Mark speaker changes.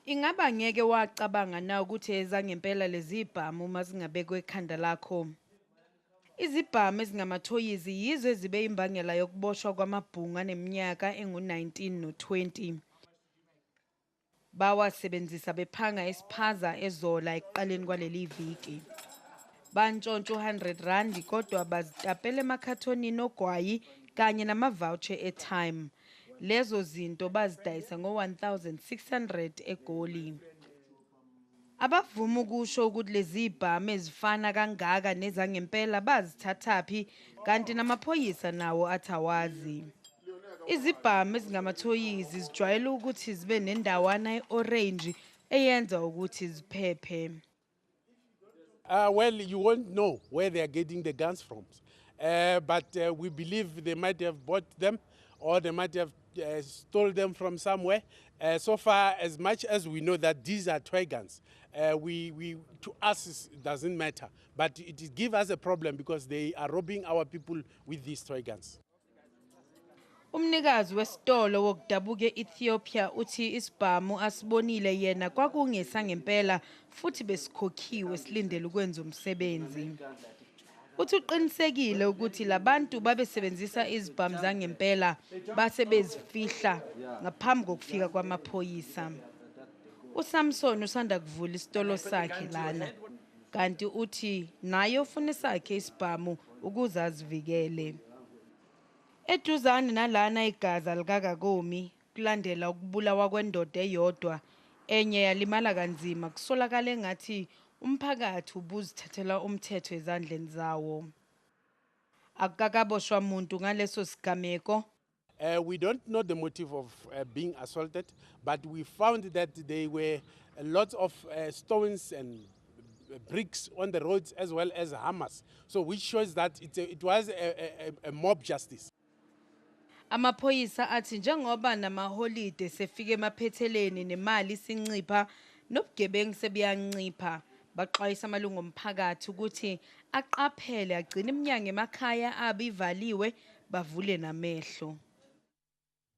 Speaker 1: Ingaba ngeke wacabanga na ukuthi ezangempela lezi ibhamu uma zingabekwe ekhanda lakho? Izibhamu ezingamathoyizi yizo ezibe imbangela yokuboshwa kwamabhungu aneminyaka engu-19 no-20. Bawasebenzisa bephanga esiphaza ezola ekuqaleni kwaleli viki. Bantshontsha u-100 randi kodwa bazitapela emakhathonini ogwayi kanye namavoucher e-time. Lezo zinto bazidayisa ngo-1600 eGoli. Abavumi ukusho ukuthi lezibhamu ezifana kangaka nezangempela bazithathaphi kanti namaphoyisa nawo athi awazi. Izibhamu ezingamathoyizi zijwayele ukuthi zibe nendawana e-orange eyenza ukuthi ziphephe. Uh,
Speaker 2: well, you won't know where they are getting the guns from. Uh, but uh, we believe they might have bought them or they might have Uh, stole them from somewhere. Uh, so far, as much as we know that these are toy guns, uh, we, we, to us it doesn't matter. But it gives us a problem because they are robbing our people with these toy guns. Umnikazi
Speaker 1: wesitolo wokudabuka e-Ethiopia uthi isibhamu asibonile yena kwakungesa ngempela futhi besikhokhiwe silindele ukwenza umsebenzi. Uthi uqinisekile ukuthi labantu babesebenzisa izibhamu zangempela base bezifihla ngaphambi kokufika kwamaphoyisa. USamson usanda kuvula isitolo sakhe lana kanti uthi naye ufuna sakhe isibhamu ukuze azivikele. Eduzane nalana igaza likaKakomi Kulandela ukubulawa kwendoda eyodwa, enye yalimala kanzima, kusolakala engathi umphakathi ubuzithathela umthetho ezandleni zawo. Akukakaboshwa muntu ngaleso sigameko. Uh, we don't
Speaker 2: know the motive of uh, being assaulted, but we found that there were lots of uh, stones and bricks on the roads as well as hammers. So which shows that it, it was a, a, a mob justice.
Speaker 1: Amaphoyisa athi njengoba namaholide sefika emaphetheleni nemali isincipha nobugebengu sebuyancipha, baxwayisa amalungu omphakathi ukuthi aqaphele agcine iminyango emakhaya abo ivaliwe bavule namehlo.